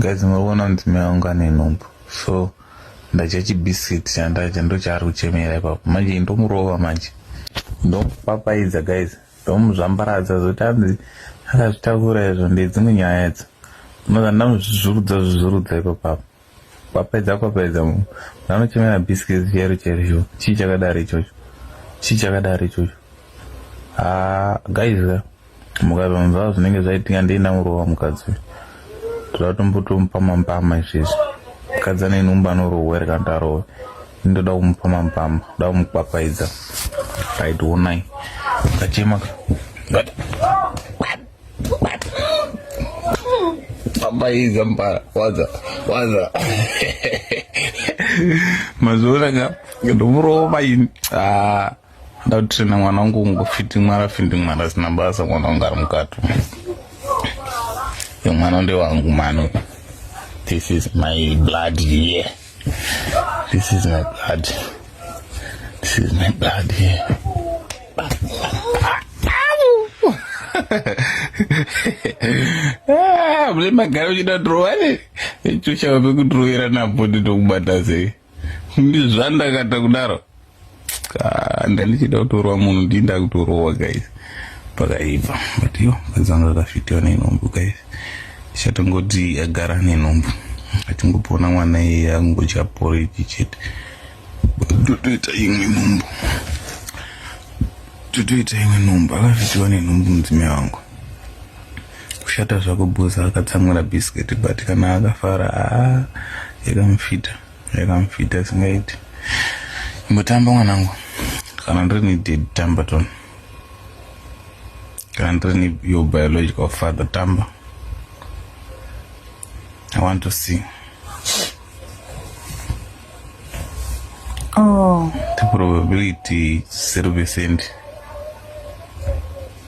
Guys murikuona mudzimai wangu ane nhumbu so ndadya chibiskit chandadya ndochaari kuchemera ipapo manje ndomurova manje ndomupapaidza guys ndomuzvambaradza zoti anzi akazvitakura izvo ndedzimwe nyaya idzo unoza ndamuzvizurudza zvizurudza ipapapo Kwapedza kwapedza mu. Vanochemera biscuits chero chero cho. Chii chakadaro ichocho? Chii chakadaro ichocho? Ah, guys ka. Mukazonzwa zvinenge zvaitika ndiina murova mukadzi. Toda tombotomupa mampama izvezvi. Mukadzi ane nhumba anorohwa ere kana tarohwa. Ndoda kumupa mampama, ndoda kumukwapaidza. Right, wonai. Kachema ka. But Amaiza mbara waza waza mazoona ka ndomurova ini ah, ndakutrena mwana wangu kungofindimwara findimwara sina basa mwana wangu ari mukati mwana ndewangu mano this is my blood here yeah. This is my blood. This is my blood here. Ah, mune magara uchida dhrowa ne icho chava pekudhrowerana bhodhi tokubata sei ndizvandakata kudaro Ah, ndandichida kutorwa munhu ndii ndakutorowa guys pakaipa but yo kazanga akafitiwa nenhumbu guys chatongoti agara nenhumbu atingopona mwana iye angocha poriji chete totoita imwe nhumbu totoita imwe nhumbu akafitiwa nenhumbu mudzimai wangu kushata zvako bhosa akatsamwira biscuit but kana akafara aa ah, yakamufita yakamfita singaiti imbotamba mwanangu kana ndiri needed tamba ton kana ndiri ne your biological father tamba i want to see oh. the probability zero percent